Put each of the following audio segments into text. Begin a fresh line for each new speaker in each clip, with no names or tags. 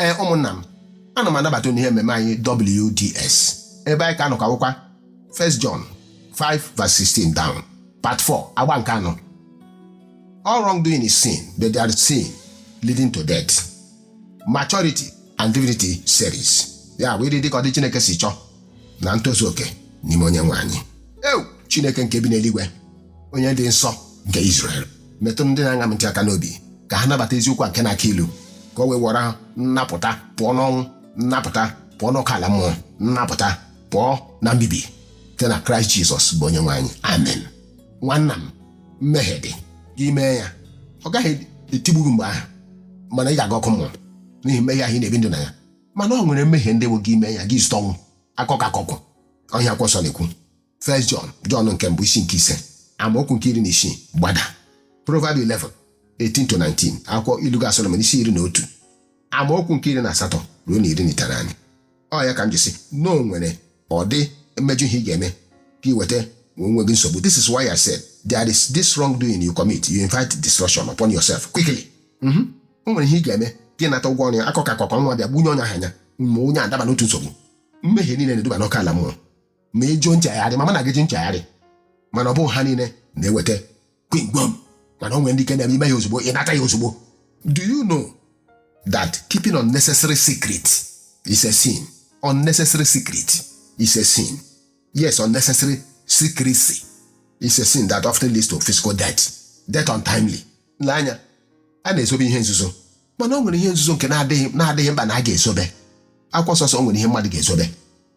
ee ụmụnna m ana m anabata unu n'ihe mmemme anyị WDS ebe anyị ka anọ ka akwụkwọ 1 John 5 verse 16 down part 4 agba nke anọ all wrongdoing is sin but there is sin leading to death maturity and divinity series ya bụ ịdị ka ọdị Chineke si chọọ na ntozu oke n'ime onye nwe anyị ewu chineke nke bi n'eluigwe onye dị nsọ nke Izrel metụ ndị na-aṅa m ntị aka n'obi ka ha nabata eziokwu a nke na-aka ilu ka o wee wọrọ ha nnapụta pụọ n'ọnwụ nnapụta pụọ n'ọkụ ala mmụọ nnapụta pụọ na mbibi site na kraịst jizọs bụ onye nwe anyị amen nwanna m mmehie dị gị mee ya ọ gaghị etigbu gị mgbe ahụ mana ị ga-aga ọkụ mmụọ n'ihi mmehie ahụ ị na-ebi ndụ na ya mana ọ nwere mmehie ndị bụ gị mee ya gị zụta ọnwụ aka ọkụ aka ọkụ ọ ihe akwụkwọ nsọ na-ekwu First John John nke mbụ isi nke ise amaokwu nke iri na isii gbada Proverb 11 18 to 19 akwụkwọ ilu ka Solomon isi iri na otu amaokwu nke iri na asatọ ruo na iri na itenaanị ọ ya ka m ji sị na o nwere ọdị mmejọ ihe ị ga-eme ka ị wetara onwe gị nsogbu this is why I said there is this wrongdoing you commit you invite destruction upon yourself quickly mhm. o nwere ihe ị ga-eme gị nata ụgwọ ọrụ ya aka ọkụ aka ọkụ ọnwụ abịa gbuo onye ahụ anya ma onye adaba n'otu nsogbu mmehie niile na-eduba n'ọkụ ala mmụọ ma ị jụ nchegharị ma mana gị jụ nchegharị mana ọ bụghị ha niile na-eweta kwingwom mana o nwere ndị nke na-eme i mee ya ozugbo ị nata ya ozugbo do you know that keeping unnecessary secret is a sin unnecessary secret is a sin yes unnecessary secrecy is a sin that often leads to physical death death untimely lee anya a na-ezobe ihe nzuzo mana o nwere ihe nzuzo nke na-adịghị mkpa na a ga-ezobe akwụkwọ nsọ sị o nwere ihe mmadụ ga-ezobe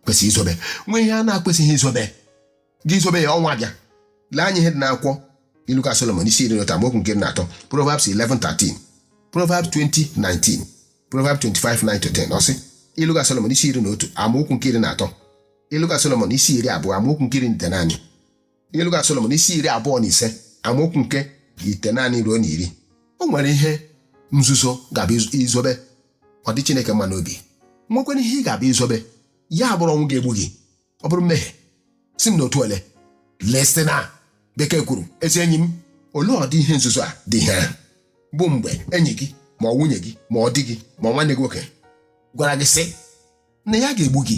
kwesịrị izobe nwee ihe na-ekwesịghị izobe gị zobe ya ọnwụ abịa lee anya ihe dị n'akwụkwọ ilu ka solomon isi iri na otu amaokwu nke iri na atọ proverbs 11:13 proverbs 20:19 proverbs 25:9-10 ọ sị ilu ka solomon isi iri na otu amaokwu nke iri na atọ ilu ka solomon isi iri abụọ amaokwu nke iri na itenaanị ilu ka Solomon isi iri abụọ na ise amaokwu nke itenaanị ruo na iri o nwere ihe nzuzo ga-abụ i zobe ọ dị Chineke mma n'obi nwekwara ihe ị ga-abụ i zobe ya abụrụ ọnwụ ga-egbu gị ọ bụrụ mmehie si m n'otu ole lesị na bekee kwuru ezi enyi m olee ọdị ihe nzuzo a dị ihe ahụ bụ mgbe enyi gị ma ọ nwunye gị ma ọ di gị ma ọ nwanne gị nwoke gwara gị sị na ya ga-egbu gị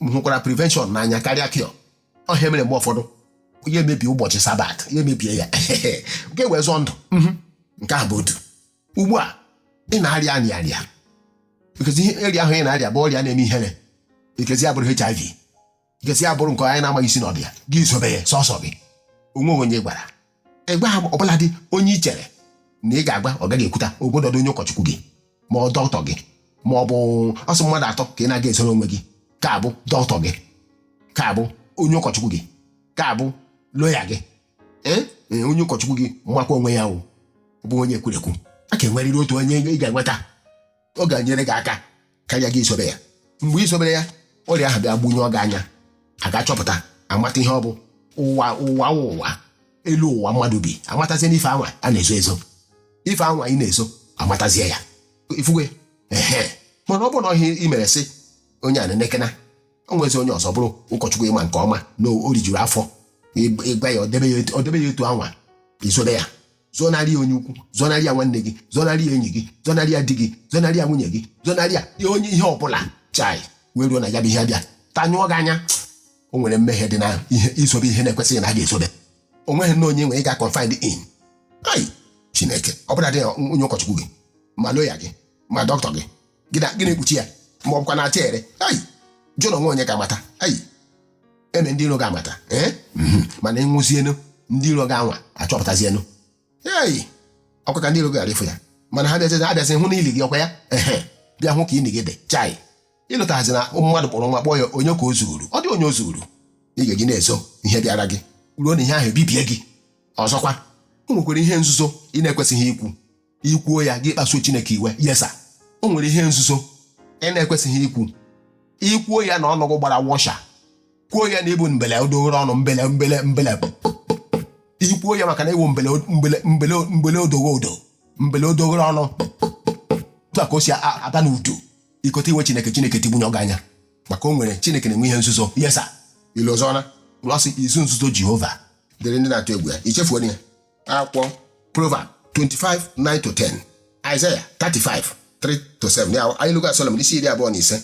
m hụkwara prevention n'anya karịa cure ọ ihe mere mgbe ụfọdụ ya emebie ụbọchị sabat ya emebie ya ka o wee zọọ ndụ mhm. nke ahụ bụ otu ugbu a ị na-arịa arịa arịa ikezi ihe ọrịa ahụ ị na-arịa bụ ọrịa na-eme ihere ikezi ya bụrụ hiv ikezi ya bụrụ nke anyị na-amaghị isi na ọdụ ya gị zobe ya sọsọ gị o nweghị onye ị gwara ịgwa ha ọ bụladị onye i chere na ị ga-agwa ọ gaghị ekwuta ọ bụladị onye ụkọchukwu gị ma dọkịta gị ma ọ bụ sọ mmadụ atọ ka ị na-agaghị ezoro onwe gị ka ọ bụ dọkịta gị ka ọ bụ onye ụkọchukwu gị ka ọ bụ lọya gị ee ee, onye ụkọchukwu gị makwa onwe ya ọ bụ onye ekwurekwu a ga-enwerịrị otu onye ị ga-enweta ọ ga-enyere gị aka karịa gị izobe ya mgbe i zobere ya ọrịa ahụ bịa gbunyụọ gị anya a ga-achọpụta amata ihe ọ bụ ụwa ụwa wụ ụwa elu ụwa mmadụ bi amatazie n'ife anwa a na-ezo ezo ife anwa ị na-ezo amatazie ya ifuwe ehe mana ọ bụrụ na ihe i mere sị onye a na-enekena o nwezi onye ọzọ bụrụ ụkọchukwu ị ma nke ọma na o rijuru afọ ị gwa ya ọ debe ya etu- ọ debe ya etu anwa izobe ya zonarị ya onye ukwu zonarị ya nwanne gị zonarị ya enyi gị zonarị ya di gị zonarị ya nwunye gị zonarị ya ihe onye ihe ọbụla chai wee ruo na ya bụ ihe bịa tanyụọ gị anya o nwere mmehie dị na ihe izobe ihe na-ekwesịghị na a ga-ezobe o nweghị na onye nwere ị ga-confide in ai Chineke ọ bụladị onye ụkọchukwu gị ma lọya gị ma dọkịta gị gị na- gị na-ekpuchi ya ma ọ bụkwa na-acha ere ayi jụrụ onwe onye ga-amata ayi eme ndị iro ga-amata ee mhm. mana ị nwụzienu ndị iro gị anwa achọpụtazienu ei ọkwa ka ndị iro ghara ịfụ ya mana ha bịazi ha bịazi hụ n'ili gị ọkwa ya ehe bịa hụ ka ili gị dị chai ị lụtazi na ụmụ mmadụ kpọrọ nwa kpọọ ya onye ka o zuuru ọ dị onye o zuuru ị ga-eji na-ezo ihe bịara gị ruo na ihe ahụ ebibie gị ọzọkwa o nwekwara ihe nzuzo ị na-ekwesịghị ikwu i kwuo ya gị kpasuo Chineke iwe yes sir o nwere ihe nzuzo ị na-ekwesịghị ikwu i kwuo ya na ọnụ gị gbara washer kwuo ya na ị bụ mbele odoghere ọnụ mbele mbele mbele i kwuo ya maka na ị wụ mbele mbele mbele mbele odoghe odo mbele odoghere ọnụ tụ a ka o si a- aba n'udu i kote iwe Chineke Chineke tigbunyụọ gị anya maka o nwere Chineke na-enwe ihe nzuzo yes sir ilu ọzọ na ọ sị izu nzuzo Jehova dịrị ndị na-atụ egwu ya i chefuo ya akwụkwọ Proverb 25 9 to 10 Isaiah 35 3 to 7 ya anyị lụga Solomon isi iri abụọ na ise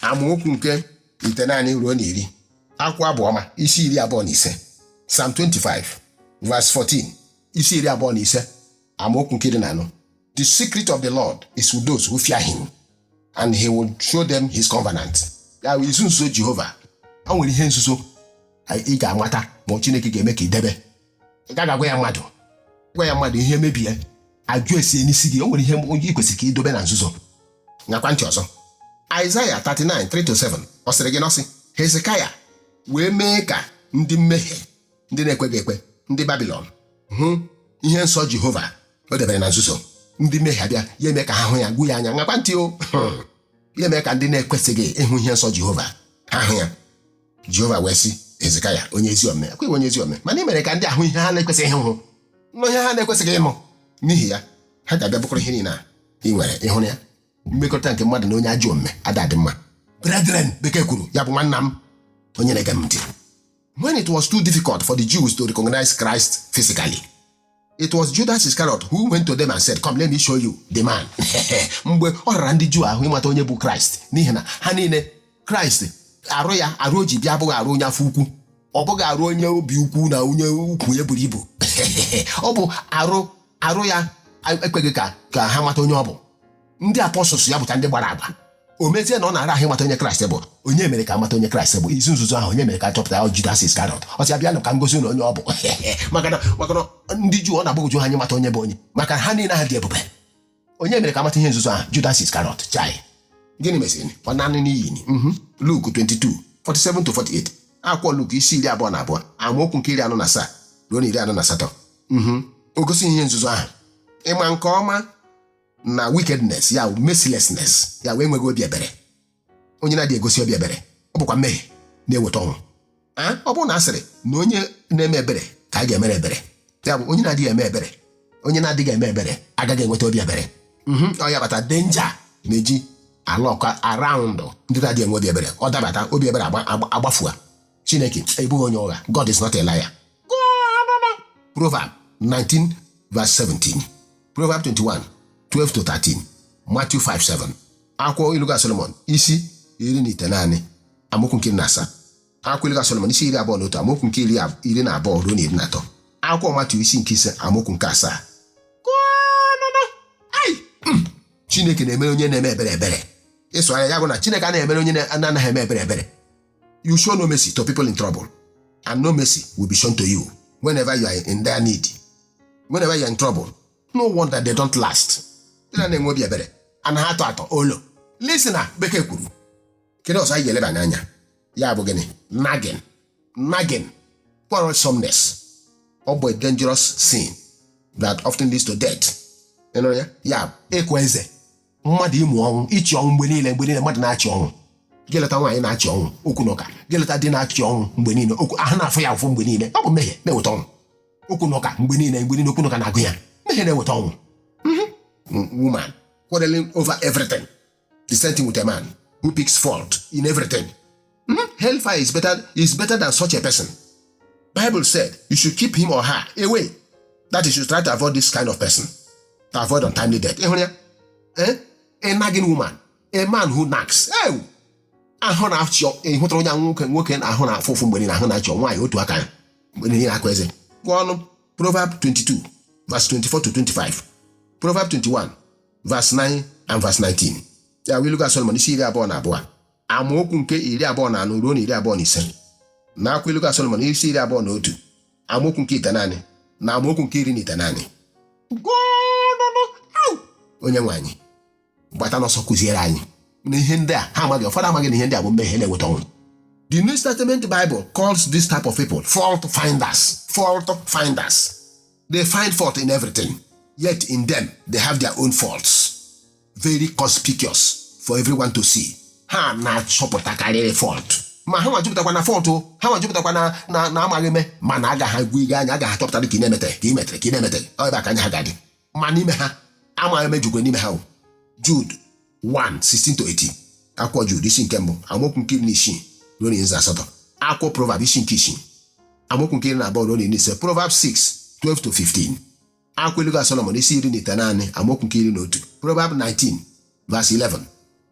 amaokwu nke itenaanị ruo na iri akwụkwọ Abụ Ọma isi iri abụọ na ise Psalm 25 verse 14 isi iri abụọ na ise amaokwu nke iri na anọ the secret of the Lord is with those who fear him and he will show them his covenant ya bụ izu nzuzo Jehova o nwere ihe nzuzo ị ga-amata ma Chineke ga-eme ka i debe ị gaghị agwa ya mmadụ gwa ya mmadụ ihe mebie ajụ esie n'isi gị o nwere ihe onye ị kwesịrị ka i dobe na nzuzo ṅaakwa ntị ọzọ Isaiah 39 3-7 ọ sịrị gịnị ọ sị Hezekaya wee mee ka ndị mmehie ndị na-ekweghị ekwe ndị Babilọn hụ ihe nsọ Jehova o debere na nzuzo ndị mmehie abịa ya eme ka ha hụ ya gwu ya anya ṅaakwa ntị o ya eme ka ndị na-ekwesịghị ịhụ ihe nsọ Jehova ha hụ ya jehova wee sị hezekaya onye ezi omume ọ kwa ị wụ onye ezi omume mana ị mere ka ndị a hụ ihe ha na-ekwesịghị ịhụ nụ ihe ha na-ekwesịghị ịnụ n'ihi ya ha ga-abịa bukọrọ ihe niile a ị nwere ị hụrụ ya mmekọrịta nke mmadụ na onye ajọ omume ada adị mma brethren bekee kwuru ya bụ nwanna m onye na-ege m ntị when it was too difficult for the jews to recognize christ physically It was Judas Iscariot who went to them and said, Come, let me show you the man. mgbe ọ rara ndị Juu ahụ ịmata onye bụ Kraịst n'ihi na ha niile Kraịst arụ ya arụ o ji bịa abụghị arụ onye afọ ukwu ọ bụghị arụ onye obi ukwu na onye ukwu ya buru ibu ọ bụ arụ arụ ya ekweghị ka ka ha mata onye ọ bụ ndị apọstụls ya bụcha ndị gbara agba o mezie na ọ na-ara ahụ ịmata onye kraịst bụ onye mere ka a mata onye kraịst bụ izu nzuzo ahụ onye mere ka a chọpụta ya wụ judas iskarọt ọ sị ha bịanụ ka m gosi unu onye ọ bụ maka na maka na ndị juu ọ na-agbagwoju ha anya ịmata onye bụ onye maka ha niile ha dị ebube onye mere ka a mata ihe nzuzo ahụ judas iskarọt chai gịnị meziri ọ naa n'iyi mhm. luk 22 47 to 48 akwụkwọ luk isi iri abụọ na abụọ amaokwu nke iri anọ na asaa ruo na iri anọ na asatọ mhm. o gosi ihe nzuzo ahụ ị ma nke ọma na wickedness ya wụ mercilessness ya wụ enweghị obi ebere onye na-adịghị egosi obi ebere ọ bụkwa mmehie na-eweta ọnwụ Ah, ọ bụrụ na a sịrị na onye na-eme ebere ka a ga-emere ebere ya bụ onye na-adịghị eme ebere onye na-adịghị eme ebere agaghị enweta obi ebere Mhm, ọ ya kpata danger na-eji alurk around ndị na-adịghị enwe obi ebere ọ dabata obi ebere agba- agba- agbafua chineke abụghị onye ụgha god is not a liar proverb 19 verse 17 proverb 21 12 to 13 matthew 5 7 akwụkwọ ilu ga solomon isi iri na itenaanị amaokwu nke iri na asaa akwụkwọ iluga solomon isi iri abụọ na otu amaokwu nke iri na abụọ ruo na iri na atọ akwụkwọ matthew isi nke ise amaokwu nke asaa hmm. chineke na-emere onye na-eme ebere ebere ịsụ anya ya bụ na chineke anaghị emere onye na-anaghị eme ebere ebere You show no mercy to people in trouble, and no mercy will be shown to you whenever you are in their need. Whenever you are in trouble, no wonder they don't last. Ndị na-anaghị enwe obi ebere anaghị atọ atọ olo. Listen na Bekee kwuru. Kedu ọzọ anyị ga-elebanye anya? Ya bụ gịnị? Nagging. Nagging. Quarrelsomeness. Ọ bụ a dangerous sin that often leads to death. Ị nụrụ ya? Ya bụ ịkwa eze. mmadụ ịmụ ọnwụ ịchị ọnwụ mgbe niile mgbe niile mmadụ na-achị ọnwụ geleta nwaanyị na-achị ọnwụ okwu na ụka geleta di na-achị ọnwụ mgbe niile okwu ahụ na-afụ ya ụfụ mgbe niile ọ bụ mmehie na-eweta ọnwụ okwu na ụka mgbe niile mgbe niile okwu na ụka na-agụ ya mmehie na-eweta ọnwụ woman quarreling over everything the same thing with a man who picks fault in everything Hmm? Hellfire is better, is better than such a person. Bible said you should keep him or her away. That is, you should try to avoid this kind of person. To avoid untimely death. Ịhụrụ ya? Eh? A nagging woman. A man who nags. Ew! ahụ na-achị ị hụtara onye ahụ nwoke nwoke na ahụ na-afụ ụfụ mgbe niile ahụ na-achị nwaanyị otu aka ya mgbe niile akụ eze gụọnụ Proverb 22 verse 24 to 25 Proverb 21 verse 9 and verse 19 ya wụ Ilu ga Solomon isi iri abụọ na abụọ amaokwu nke iri abụọ na anọ ruo na iri abụọ na ise nakwa Ilu ga Solomon isi iri abụọ na otu amaokwu nke itenaanị na amaokwu nke iri na itenaanị onye nwe anyị gbata n'ọsọ kụziere anyị na ihe ndị a ha amaghị ụfọdụ amaghị na ihe ndị a bụ mmehie na-eweta ọnwụ the new testament bible calls this type of people fault finders fault finders they find fault in everything yet in them they have their own faults very conspicuous for everyone to see ha na-achọpụtakarịrị fault ma ha nwa jupụtakwa na fault ha nwa jupụtakwa na na na amaghị eme mana agaghị agwa ihe anya agaghị achọpụtara ka ị na-emetere ka ị metere ka ị na-emetere ọ ebe a ka anya ha ga-adị ma n'ime ha amaghị eme jukwe n'ime ha o Jude 1 16 to 18 akwụkwọ Jude isi nke mbụ amaokwu nke iri na isii ruo na iri na asatọ akwụkwọ Proverb isi nke isii amaokwu nke iri na abụọ ruo na iri na ise Proverb 6 12 to 15 akwụkwọ ilu ga Solomon isi iri na itenaanị amaokwu nke iri na otu Proverb 19 verse 11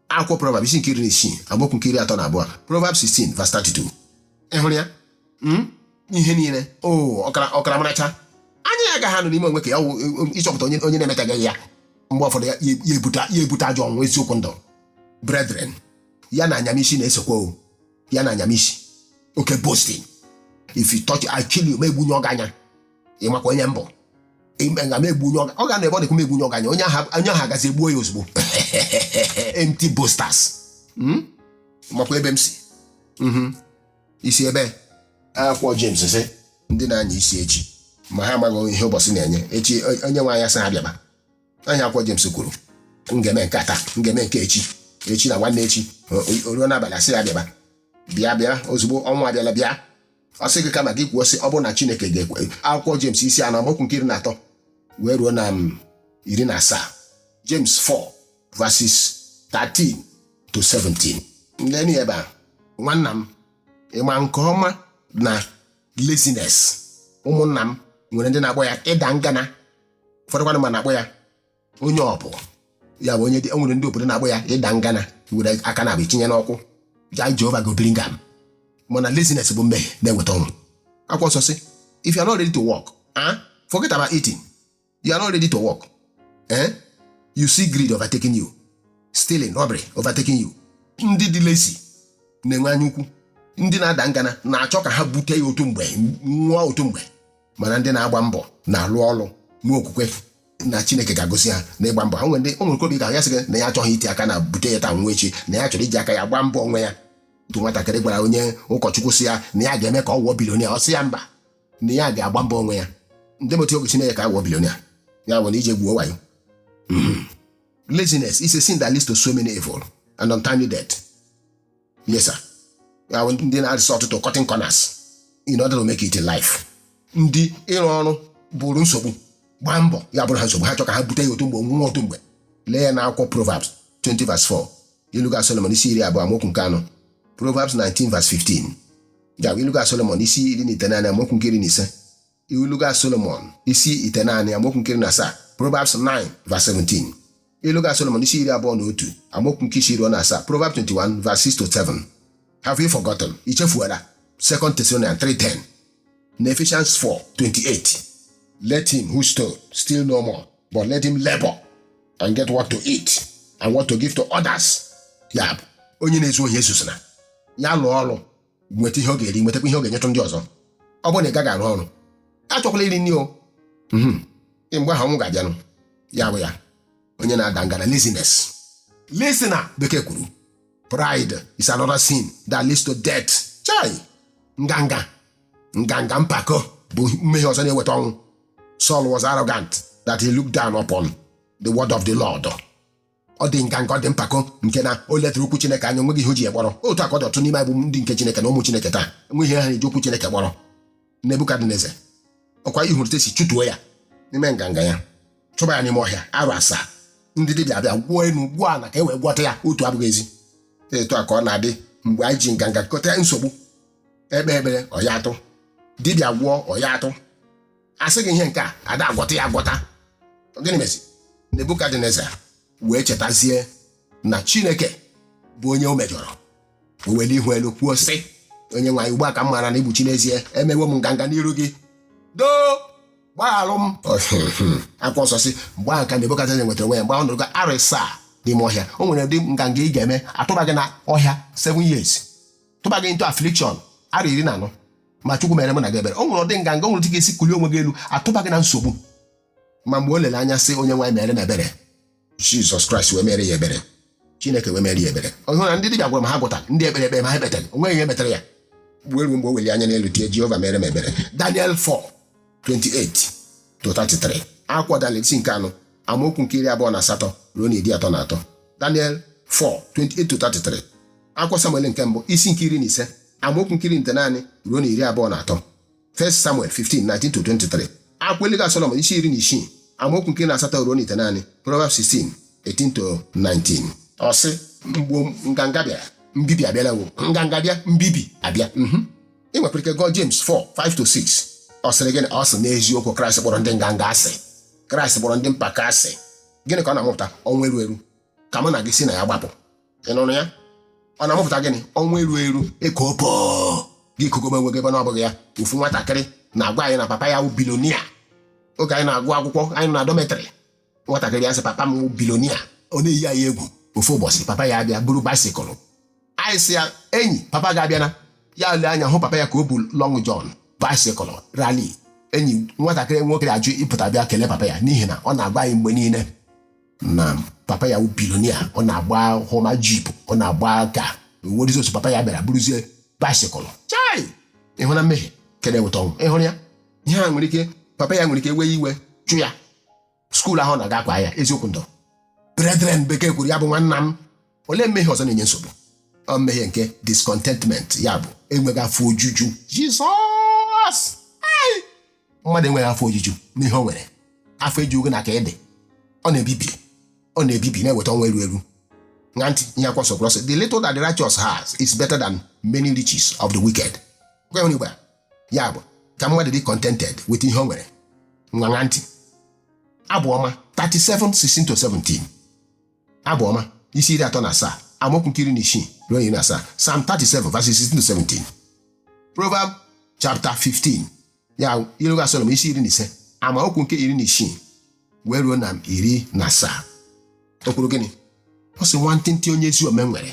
akwụkwọ Proverb isi nke iri na isii amaokwu nke iri atọ na abụọ Proverb 16 verse 32 ị hụrụ ya Mm? ihe niile o ọkara ọkara maracha anya ya agaghị anọ n'ime onwe ka ya wụ, e, e, ịchọpụta onye onye na-emetaghị ya mgbe ụfọdụ ya ya- ya ebute ya ebute ajọ ọnwụ eziokwu ndụ brethren ya na anyamisi na-esokwa o ya na anyamisi oke boasting if you touch I kill you m egbu onye ọganya ị makwa onye m bụ ime nga m egbu onye ọga- ọ ga na ebe ọ dịkwa m egbu onye ọganya onye aha onye aha gazi egbuo ya ozugbo empty boasters Mm? makwa ebe m si Mhm. isi ebe akwụkwọ James sị ndị na-anya isi echi ma ha amaghị ihe ụbọchị na-enye echi o- onye nwe anyị asị ha bịaba anya akwụkwọ James kwuru m ga-eme nke a taa m ga-eme nke echi echi na nwanne echi o- o- o ruo n'abalị a sị ya bịaba bịa bịa ozugbo ọnwụ abịala bịa ọ sị gị kama gị kwuo sị ọ bụrụ na chineke ga-ekwe akwụkwọ James isi anọ amaokwu nke iri na atọ wee ruo na m iri na asaa James 4 verses 13 to 17 ndị ni ebe a nwanna m ị ma nke ọma na laziness ụmụnna m nwere ndị na-akpọ ya ịda ngana ụfọdụkwanụ ma na-akpọ ya onye ọbụ ya bụ onye dị e nwere ndị obodo na-akpọ ya ịda ngana were aka naabọ tinye n'ụkwụ ja jehova go bring am mana laziness bụ mmehie na-eweta ọnwụ akwụkwọ nsọ sị if you are not ready to work ah forget about eating you are not ready to work eh you see greed overtaking you stealing robbery overtaking you ndị dị lazy na-enwe anya ukwu ndị na-ada ngana na-achọ ka ha bute ya otu mgbe nwụọ otu mgbe mana ndị na-agba mbọ na-alụ ọrụ nwee okwukwe na chineke ga-agọzi ha n'ịgba mbọ ha nwere ndị o nwere obi ga ya sị gị na ya achọghị iti aka na bute ya taa nwụọ echi na ya chọrọ iji aka ya gbaa mbọ onwe ya otu nwatakịrị gwara onye ụkọchukwu sị ya na ya ga-eme ka ọ wụọ billionaire ọ sị ya mba na ya ga-agba mbọ onwe ya ndị motu oge chineke ka a wụọ billionaire ya bụ na ije gwuo wayo laziness is a sin that leads to so many evil and untimely death Yes, sir. Ya bụ ndị na-resort to cutting corners in order to make it in life. Ndị ịrụ ọrụ bụrụ nsogbu gbaa mbọ ya bụrụ ha nsogbu ha chọ ka ha bute ya otu mgbe nwụọ otu mgbe lee ya n'akwụkwọ Proverbs 20 verse 4 iluga Solomon isi iri abụọ amaokwu nke anọ Proverbs 19 verse 15 ya bụ iluga Solomon isi iri na itenaanị amaokwu nke iri na ise iluga solomon isi itenaanị amaokwu nke iri na asaa proverbs 9 verse 17 iluga solomon isi iri abụọ na otu amaokwu nke isii ruo na asaa proverbs 21 verse 6 to 7 have you forgotten ichefuola 2 thessalonians 3:10 na ephesians 4:28 let him who stole steal no more but let him labor and get what to eat and what to give to others ya bụ onye na-ezu ohi ezuzina ya lụọ ọrụ nweta ihe ọ ga-eri nwetakwa ihe ọ ga-enyetụ ndị ọzọ ọ bụrụ na ị gaghị arụ ọrụ achọkwala iri nri o Mhm. mgbe ahụ ọnwụ ga-abịanụ ya bụ ya onye na-ada ngana laziness laziness bekee kwuru pride is another sin that leads to death chai nganga nganga mpako bụ mmehie ọzọ na-eweta ọnwụ Saul was arrogant that he looked down upon the word of the Lord ọ dị nganga ọ dị mpako nke na o ledara okwu Chineke anya o nweghị ihe o ji ya kpọrọ otu a ka ọ dị ọtụtụ n'ime anyị bụ ndị nke Chineke na ụmụ Chineke taa enweghị ihe ha na-eji okwu Chineke kpọrọ Nebukadneza ọkwa ị hụrụ etu e si chụtuo ya n'ime nganga ya chụba ya n'ime ọhịa arọ asaa ndị dibịa abịa gwọọ enu gwọọ ala ka e wee gwọta ya otu abụghị ezi etu a ka ọ na-adị mgbe anyị ji nganga kọta nsogbu e kpee ekpere ọ ya atụ dibịa gwọọ ọ ya atụ a sị gị ihe nke a a da agwọta ya agwọta gịnị mezi nebukadneza wee chetazie na chineke bụ onye o mejọrọ o were ihu elu kwuo sị onye nwe anyị ugbu a ka m maara na ị bụ chi n'ezie emewo m nganga n'iru gị doo gbagharụ m akwụkwọ nsọ sị mgbe ahụ ka nebukadneza nwetara onwe ya mgbe ọ nọrọ arọ asaa n'ime ọhịa o nwere ụdị nganga ị ga-eme a tụba gị na ọhịa 7 years tụba gị into affliction arọ iri na anọ ma chukwu mere mụ na gị ebere o nwere ụdị nganga o nwere otu ga-esi kulie onwe gị elu atụba gị na nsogbu ma mgbe o lere anya sị onye nwe anyị mere m ebere jizọs kraịst wee mere ya ebere chineke wee mere ya ebere ọ hụrụ na ndị dibịa gwara ma ha agwọtara ndị ekpere kpere ma ha ekpetara o nweghị ihe metara ya wee ruo mgbe o weli anya n'elu tie jehova mere m ebere daniel 4 28 to 33 akwụkwọ daniel isi nke anọ amaokwu nke iri abụọ na asatọ ruo na iri atọ na atọ daniel 4 28 to 33 akwụkwọ samuel nke mbụ isi nke iri na ise amaokwu nke iri na ite naanị ruo na iri abụọ na atọ 1 Samuel 15:19-23 akwụkwọ Ilu Solomon isi iri na isii amaokwu nke iri na asatọ ruo na ite naanị Proverbs 16 18-19 ọ sị mgbe nganga bịara mbibi abịala wo nganga bịa mbibi abịa mhm. ị nwekwara ike gụọ James 4:5-6 ọ sịrị gịnị ọ sị n'eziokwu Kraịst kpọrọ ndị nganga asị Kraịst kpọrọ ndị mpako asị gịnị ka ọ na-amụpụta ọnwụ eru eru ka mụ na gị si na ya gbapụ ị nụrụ ya ọ na-amụpụta gịnị ọnwụ eru eru ịka opo gị kogobe onwe gị ebe na ọ bụghị ya ofu nwatakịrị na-agwa anyị na papa ya wụ billionaire oge anyị na-agụ akwụkwọ anyị nọ na dormitory nwatakịrị ya sị papa m wụ billionaire ọ na-eyi anyị egwu ofu ụbọchị papa ya abịa buru bicycle anyị sị ya enyi papa gị abịana ya lee anya hụ papa ya ka o bu long john bicycle Raleigh enyi nwatakịrị nwoke ajụ ịpụta bịa kelee papa ya n'ihi na ọ na-agwa anyị mgbe niile na papa ya wụ billionaire ọ na-agba Hummer jeep ọ na-agba ka nwerizi otu papa ya bịara buruzie bicycle chai ị hụ na mmehie nke a na-eweta ọnwụ ị hụrụ ya ihe a nwere ike papa ya nwere ike wee iwe chụ ya school ahụ ọ na-aga akwaa ya eziokwu ndụ brethren bekee kwuru ya bụ nwanna m olee mmehie ọzọ na-enye nsogbu ọ mmehie nke discontentment ya bụ enweghị afọ ojuju jizọs Ai! mmadụ enweghị afọ ojuju n'ihe o nwere afọ ejughị na ka ede ọ na-ebibi ọ na-ebibi na-eweta ọnwụ eru eru ṅa ntị ihe akwụkwọ nsọ kwuru sị the little that the righteous has is better than many riches of the wicked Gwa ya onye Igbo a, ya bụ ka mmadụ dị contented with ihe o nwere ngwa ṅa ntị abụ ọma 37 16 to 17 abụ ọma isi iri atọ na asaa amaokwu nke iri na isii ruo iri na asaa Psalm 37 verses 16 to 17 Proverb chapter 15 ya ilu Solomon isi iri na ise amaokwu nke iri na isii wee ruo na iri na asaa o kwuru gịnị ọ sị nwantịntị onye ezi omume nwere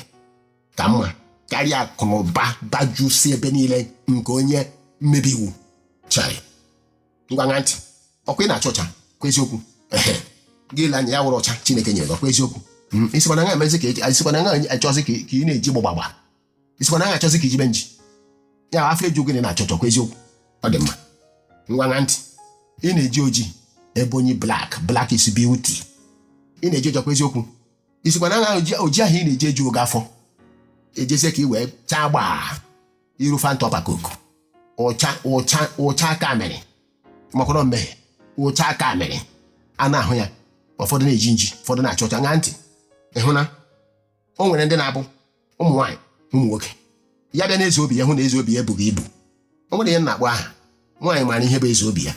ka mma karịa akụ na ụba bajusi ebe niile nke onye mmebi iwu chai ngwa ṅa ntị ọkwa ị na-acha ọcha ọkwa eziokwu ehe gị lee anya ya wụrụ ọcha chineke nyere gị ọkwa eziokwu Mm, ị sịkwa na ị na-emezi ka eji- ị sịkwa na ị na-achọzi ka ka ị na-eji gbọgbagba ị sịkwa na ị na-achọzi ka i jibe nji ya afọ eju gị na ị na-acha ọcha ọkwa eziokwu ọ dị mma ngwa ṅa ntị ị na-eji oji ebony black black is beauty ị na-eji oji ọkwa eziokwu ị sịkwa na ṅa oji oji ahụ ị na-eji ejuro gị afọ i jezie ka i wee chaa gbaa iru fanta ọkpa koku ụcha ụcha ụcha aka mere makwara mmehie ụcha aka mere a na-ahụ ya ụfọdụ na-eji nji ụfọdụ na-acha ọcha ṅaa ntị ịhụ na o nwere ndị na-abụ ụmụ nwaanyị ụmụ nwoke ya bịa n'eze obi ya hụ na eze obi ya ebughị ibu o nwere ihe na-akpọ aha nwaanyị maara ihe bụ eze obi ya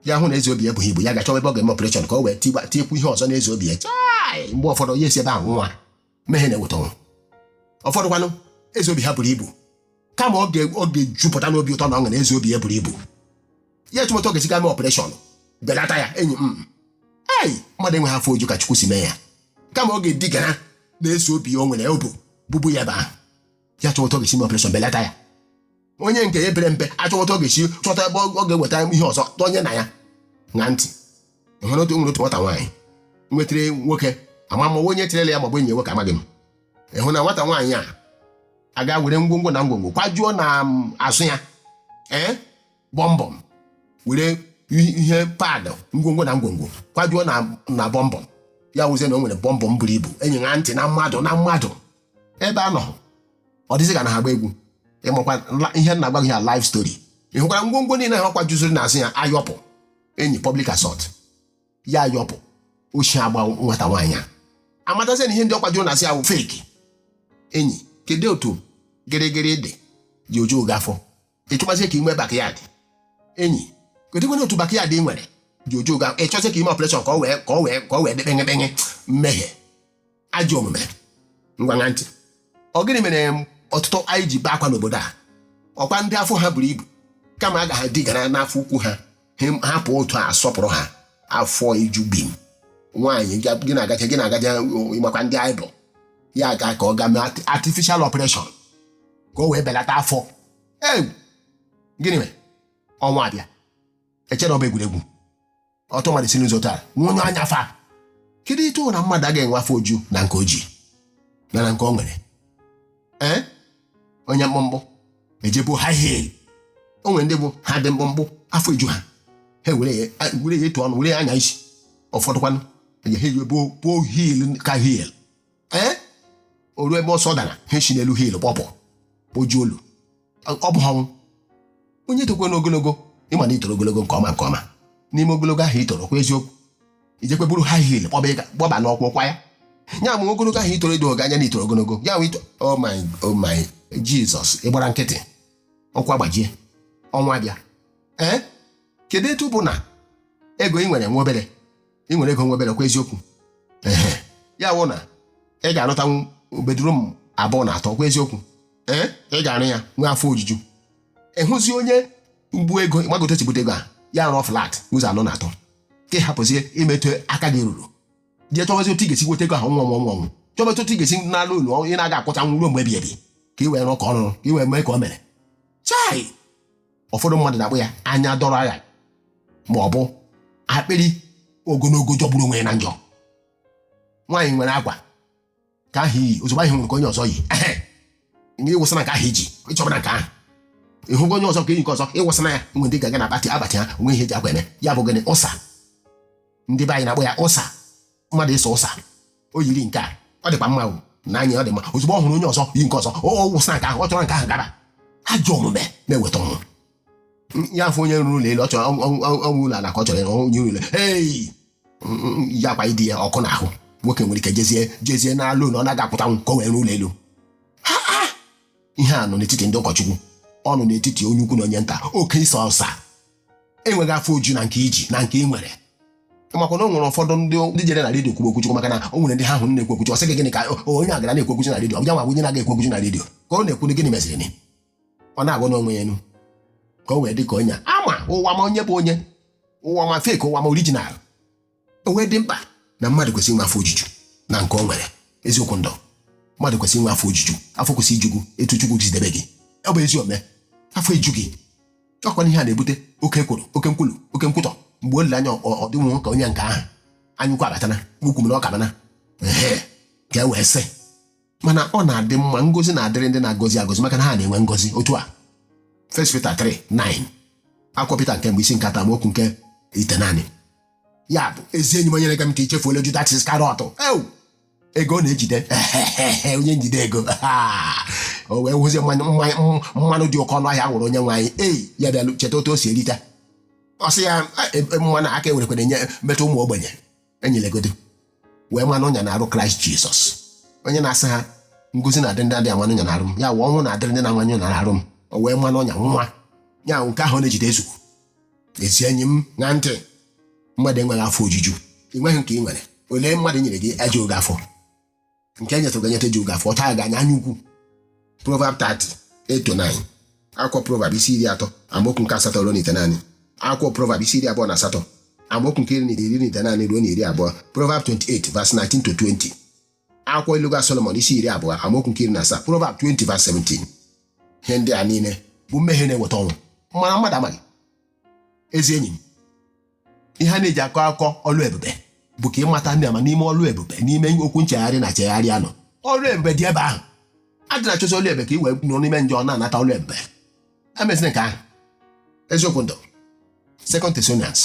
ya hụ na eze obi ya ebughị ibu ya ga-achọwa ebe ọ ga-eme ọpụreshọn ka o wee tikwa tiekwu ihe ọzọ n'eze obi ya chai mgbe ụfọdụ ya esi ebe ahụ nwa mmehie na-eweta ọnwụ ụfọdụkwanụ eze obi ha buru ibu kama ọ ga- ọ ga-ejupụta n'obi ụtọ na ọṅụ na eze obi ya buru ibu ya achọwa otu ọ ga-esi gaa mee ọpụreshọn belata ya enyi m ei mmadụ enweghị afọ oju ka chukwu si mee ya kama ọ ga-edigara n'eze obi ya o nwere obu bubu ya ebe ahụ ya chọwa otu ọ ga-esi mee ọpụreshọn belata ya onye nke ya pere mpe achọwa otu ọ ga-esi chọta ebe ọ ga-eweta ihe ọzọ tọnye na ya ṅaa ntị enwere otu nwere otu nwata nwaanyị nwetara nwoke ama ma onye tirela ya maọbụ enyi nwoke amaghị m ịhụ na nwata nwaanyị a aga were ngwongwo na ngwongwo kwajuo na azụ ya ee bọmbọm were ihe padụ ngwongwo na ngwongwo kwajuo na bọmbọm ya wụzie na o nwere bọmbọm buru ibu enyi ṅaa ntị na mmadụ na mmadụ ebe a nọ ọ dịzị ka na ha gba egwu ịmakwa la- ihe m na-agwa gị a live story ị hụkwara ngwongwo niile ahụ ọ kwajuziri n'azụ ya ayọpụ enyi public assault ya ayọpụ oshi agba nwata nwaanyị a amatazie na ihe ndị ọ kwajuru n'azụ ya bụ feki enyi kedu otu gịrịgịrị ị dị ji ejughị gị afọ ị chọbazie ka ị nwee bakịyadị enyi kedụkwana otu bakịyadị ị nwere ji ejughị gị ị chọzie ka i mee ọpụreshọn ka ọ wee ka ọ wee ka ọ wee dekpenye kpenye mmehie ajọ omume ngwa ṅaa ntị ọ gịnị mere ọtụtụ anyị ji bee akwa n'obodo a ọkwa ndị afọ ha buru ibu kama a ga ha digara n'afọ ukwu ha hapụ otu a sọpụrụ ha afọ ejubeghị m nwaanyị gị na-agacha gị na-agacha ịmakwa ndị oyibo ya gaa ka ọ ga mee artificial operation ka o wee belata afọ ee gịnị mere ọnwụ abịa echere ọ bụ egwuregwu otu mmadụ si n'ụzọ taa nwa onye anya ụfụ kedu ịtụ na mmadụ agaghị enwe afọ oju na nke o ji na na nke o nwere ee onye mkpụmkpụ eje buo haị hil o nwere ndị bụ ha dị mkpụmkpụ afọ eju ha ha were ya were ya etu ọnụ were ya anya isi ụfọdụkwanụ eje ha eji buo buo hil ka hil ee o ruo ebe ọsọ dara ha si n'elu hil kpọpụ o jie olu ọ bụ ọnwụ onye tokwe n'ogologo ịma na itoro ogologo nke ọma nke ọma n'ime ogologo ahụ itoro kwa eziokwu i jekwe buru high heel kpọba n'ụkwụ kwa ya ya ma ogologo ahụ i toro edo anya na i toro ogologo ya ito oh my oh my jizọs ị gbara nkịtị ọkpa agbajie ọnwụ abịa ee kedu etu bụ na ego ị nwere nwa obere ị nwere ego nwa obere kwa eziokwu ehe ya wụ na ị ga-arụtanwu bedroom abụọ na atọ kwa eziokwu ee ị ga-arụ ya nwee afọ ojuju ị hụzi onye mgbu ego gbagote chibute ego a ya rụọ flat ụzọ anọ na atọ ka ị hapụzie ime etu aka gị ruru jee chọbazi otu ị ga-esi nweta ego ahụ nwa nwa nwa nwa chọbazi otu ị ga-esi nara loan ị na-aga akwụchanwu ruo mgbe ebi ebi ka ị wee rụọ ka ọ rụrụ ka ị wee mee ka o mere chai ụfọdụ mmadụ na-akpọ ya anya dọrọ agha ma ọ bụ akpịrị ogologo jọgburu onwe ya na njọ nwaanyị nwere akwa nke ahụ i yi ozugbo ị hụrụ nke onye ọzọ yi ehe ị wụsana nke ahụ i ji ị chọbana nke ahụ ị hụgo onye ọzọ ka o yi nke ọzọ ị wụsana ya nwe ndị ga-aga n'akpati ha o nwe ihe e ji akwa eme ya bụ gịnị ụsa ndị be anyị na-akpọ ya ụsa mmadụ ịsa ụsa o yiri nke a ọ dịkwa mma o na anya ọ dị mma ozugbo ọ hụrụ onye ọzọ yi nke ọzọ ọ wụsana nke ahụ ọ chọrọ nke ahụ gaba ajọ omume na-eweta ọnwụ ya afụ onye rụrụ ụlọ elu ọ chọrọ ọnwụ ụlọ ala ka ọ chọrọ ịrụ onye ụlọ ei ya akwa di ya ọkụ n'ahụ nwoke nwere ike jezie jezie nara loan ọ naghị akwụtanwu ka o wee rụọ ụlọ elu ihe a nọ n'etiti ndị ụkọchukwu ọ nọ n'etiti onye ukwu na onye nta oke ịsa ụsa enweghị afọ oju na nke i ji na nke ị nwere makwa na o nwere ụfọdụ ndị ndị jere na redio kwuru okwuchukwu maka na o nwere ndị ha hụrụ na-ekwu okwuchukwu ọ sị gị gịnị ka onye a gara na-ekwu okwuchukwu na redio ọ bịa nwa onye na-aga ekwu okwuchukwu na redio ka ọ na-ekwu gịnị meziri ọ na-agụ n'onwe ya enu ka o wee dị ka onye ama ụwa ma onye bụ onye ụwa ma fake ụwa ma original o wee dị mkpa na mmadụ kwesịrị inwe afọ ojuju na nke o nwere eziokwu ndụ mmadụ kwesịrị inwe afọ ojuju afọ kwesịrị iju gị etu chukwu si debe gị ọ bụ ezi ome afọ eju gị ọkwa ihe a na-ebute oke ekworo oke nkwulu oke nkwutọ mgbe o lere anya ọ dịnwụ ka onye nke ahụ anyaukwu abatana okwu na ụka abana ehe ka e wee sị mana ọ na-adị mma ngozi na-adịrị ndị na-agọzi agọzi maka na ha na-enwe ngozi otu a First Peter 3 9 akwụkwọ Peter nke mbụ isi nke atọ amaokwu nke itenani ya bụ ezi enyi m onye na-ege m ka i chefuola Judas Iscariot ewu ego ọ na-ejide onye njide ego o wee hụzie mmanya mmanya- mmanụ dị oke ọnụ ahịa a wụrụ onye nwe anyị ei ya bịalụ cheta otu o si erita ọ sị ya "Ah, e- e- mmanụ a ka e werekwere nye metụ ụmụ ogbenye onye legodo wee maa n'ọnya n'arụ kraịst jizọs onye na-asị ha ngozi na-adịrị ndị adị ama n'ọnya n'arụ m ya wụ ọnwụ na-adịrị ndị na-ama n'ọnya n'arụ m o wee maa n'ọnya nwa ya ahụ nke ahụ na-ejide ezugbo ezi enyi m na ndị mmadụ enweghị afọ ojuju ị nweghị nke ị nwere ole mmadụ nyere gị ejuo gị afọ nke enyetụ ga-enyeta ji ụga fọta ya ganya anya ukwu proverb 30 8 to 9 akwụkwọ proverb isi iri atọ amaokwu nke asatọ ruo na itenaanị akwụkwọ proverb isi iri abụọ na asatọ amaokwu nke iri na iri na itenaanị ruo na iri abụọ proverb 28 verse 19 to 20 akwụkwọ iluga solomon isi iri abụọ amaokwu nke iri na asaa proverb 20 verse 17 ihe ndị a niile bụ mmehie na-eweta ọnwụ mana mmadụ amaghị ezi enyi m ihe a na-eji akọ akọ ọlụ ebube bụ ka ị mata ndị ama n'ime ọlụ ebube n'ime okwu nchegharị na chegharị anọ ọlụ ebube dị ebe ahụ adịna achọzi ọlụ ebube ka i wee nọ n'ime njọ na-anata ọlụ ebube emezina nke ahụ eziokwu ndụ Second Thessalonians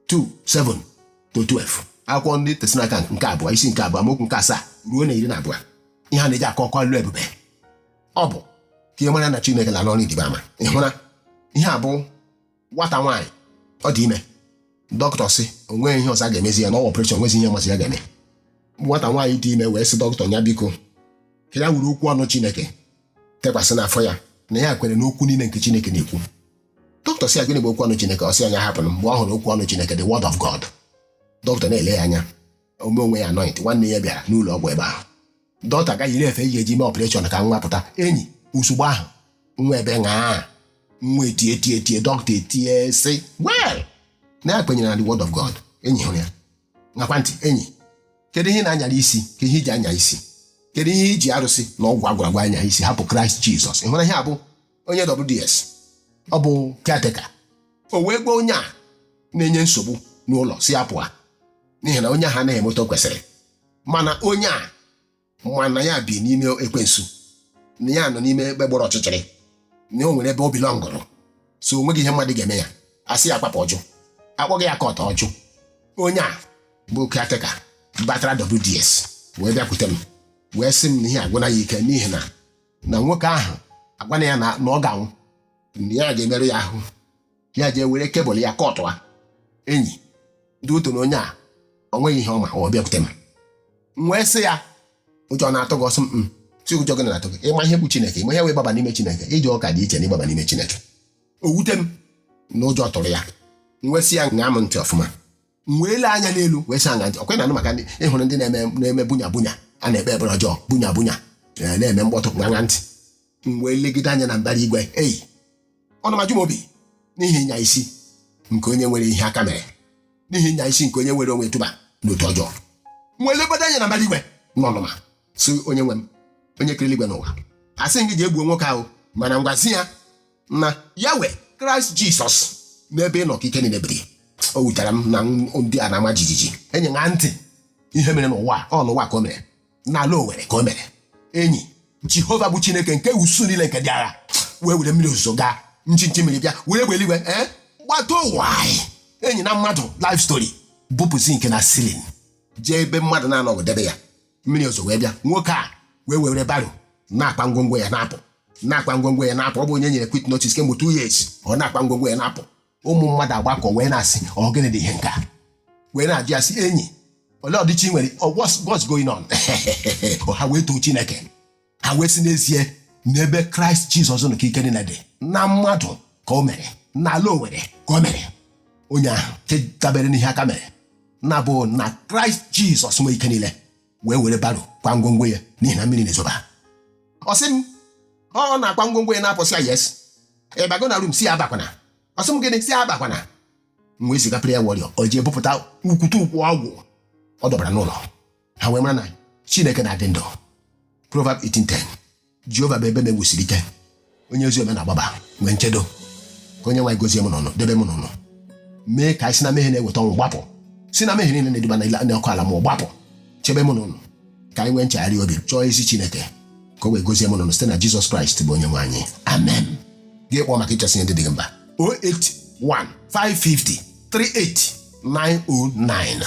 2 7 to 12 akwụkwọ ndị Thessalonica nke abụọ isi nke abụọ amaokwu nke asaa ruo na iri na abụọ ihe a na-eji akọ akọ ọlụ ebube ọ bụ ka ị mara na Chineke na-alụ ọrụ ịrịba ama ị hụra ihe a bụ nwata nwaanyị ọ dị ime dọkịta sị o nweghị ihe ọzọ a ga-emezi ya na ọ wa operation nwezi ihe ọ mazi ya ga-eme nwata nwaanyị dị ime wee sị dọkịta ya biko ka ya were okwu ọnụ chineke tekwasị n'afọ ya na ya kwere n'okwu niile nke chineke na-ekwu dọkịta sị ya gịnị bụ okwu ọnụ chineke ọ sị ya nya hapụ mgbe ọ hụrụ okwu ọnụ chineke the word of god dọkịta na-ele ya anya o mee onwe ya anoint nwanne ya bịara n'ụlọ ọgwụ ebe ahụ dọkịta agaa iwere ihe e ji mee operation ka nwa pụta enyi ozugbo ahụ nwa ebee ṅaa nwa etie tie tie dọkịta etie sị well na ya kwenyere na the word of god enyi ị hụrụ ya ṅakwa ntị enyi kedu ihe ị na-anyara isi kee ihe i ji anya isi kedu ihe i ji arụsị na ọgwụ a gwara agwa anya isi hapụ kraịst jizọs ị hụrụ ihe a bụ onye WDS ọ bụ caretaker o wee gwa onye a na-enye nsogbu n'ụlọ sị ya pụọ n'ihi na onye ahụ anaghị eme otu o kwesịrị mana onye a ma na ya bi n'ime ekwensu na ya nọ n'ime ebe gbara ọchịchịrị na o nwere ebe o bi lọngụrụ so o nweghị ihe mmadụ ga-eme ya a sị ya kwapụ ọ jụ a kpọga ya court ọ jụ onye a bụ caretaker batara WDS wee bịakwute m wee sị m na ihe agwụna ya ike n'ihi na na nwoke ahụ agwana ya na na ọ ga-anwụ na ya ga-emerụ ya ahụ ya jee were kebụl ya kọtụ a enyi ndị otu na onye a o nweghị ihe ọ ma ọ bịakwute m m wee sị ya ụjọ na-atụ gị ọ sị m "Mm, sị ụjọ gịnị na-atụ gị ị ma ihe bụ chineke ị ma ihe wee gbaba n'ime chineke ije ụka dị iche na ịgbaba n'ime chineke o wute m na ụjọ tụrụ ya m wee sị ya ṅaa m ntị ọfụma m wee lee anya n'elu wee sị ya ṅaa ntị ọ kwa ị na-anụ maka ndị ị hụrụ ndị na-eme na-eme bunya bunya a na-ekpe ekpere ọjọọ bunya bunya eh, na-eme mkpọtụ ṅaa ntị m wee legide anya na mbara igwe enyi ọnụma eju m obi n'ihi ịnya isi nke onye nwere ihe aka mere n'ihi ịnya isi nke onye weere onwe ya tụba n'otu ọjọọ m wee legbado anya na mbara igwe n'ọnụma si onye nwe m onye kere eluigwe na ụwa asị gị jee gbuo nwoke ahụ mana ngwazi ya na ya wee kraịst jisọs n'ebe ị nọ ka ike niile biri o wutere m na ndị a na-ama jijiji enyi ṅaa ntị ihe mere n'ụwa ọ n'ụwa ka o mere n'ala owere ka o mere enyi jehova bụ chineke nke usuu niile nke ndị agha wee were mmiri ozuzo gaa nchinchi mmiri bịa were egbe eluigwe ee gbata ụwa anyị enyi na mmadụ life story bupụ zinc na ceiling jee ebe mmadụ na-anọghị debe ya mmiri ozuzo wee bịa nwoke a wee were barrow na-akpa ngwongwo ya na-apụ na-akpa ngwongwo ya na-apụ ọ bụ onye e nyere quit notice kemgbe two years ọ na-akpa ngwongwo ya na-apụ ụmụ mmadụ agbakọ wee na-asị ọ gịnị dị ihe nke a wee na-ajụ ya sị enyi olee ọdịchi nwere what's going on ha wee too chineke ha wee sị n'ezie n'ebe kraịst jizọs nọ ka ike niile dị na mmadụ ka o mere n'ala owere ka o mere onye ahụ nke dabere n'ihe aka mere na-abụ na kraịst jizọs nwe ike niile wee were barrow kwa ngwongwo ya n'ihi na mmiri na-ezoba ọ sị m ọ na-akwa ngwongwo ya na-apụ sị ya yes ịbago na room sị ya abakwana ọ sị m gịnị sị ya abakwana m wee ziga prayer warrior o jee bupụta ukwute ukwu ọgwụ ọ dọbara n'ụlọ ha wee mara na chineke na-adị ndụ Proverb 18:10 jehova bụ ebe m e wusiri ike onye ezi omume na-agbaba nwee nchedo ka onye nwe anyị gozie mụ na unu debe mụ na unu mee ka anyị si na mmehie na-eweta ọnwụ gbapụ si na mmehie niile na-eduba na ile- na ọkụ ala mmụọ gbapụ chebe mụ na unu ka anyị nwee nchegharị obi chọọ ezi chineke ka o wee gozie mụ na unu site na jizọs kraịst bụ onye nwe anyị amen gị kpọọ maka ịchọsị ihe ndị dị gị mkpa 081 550 38 909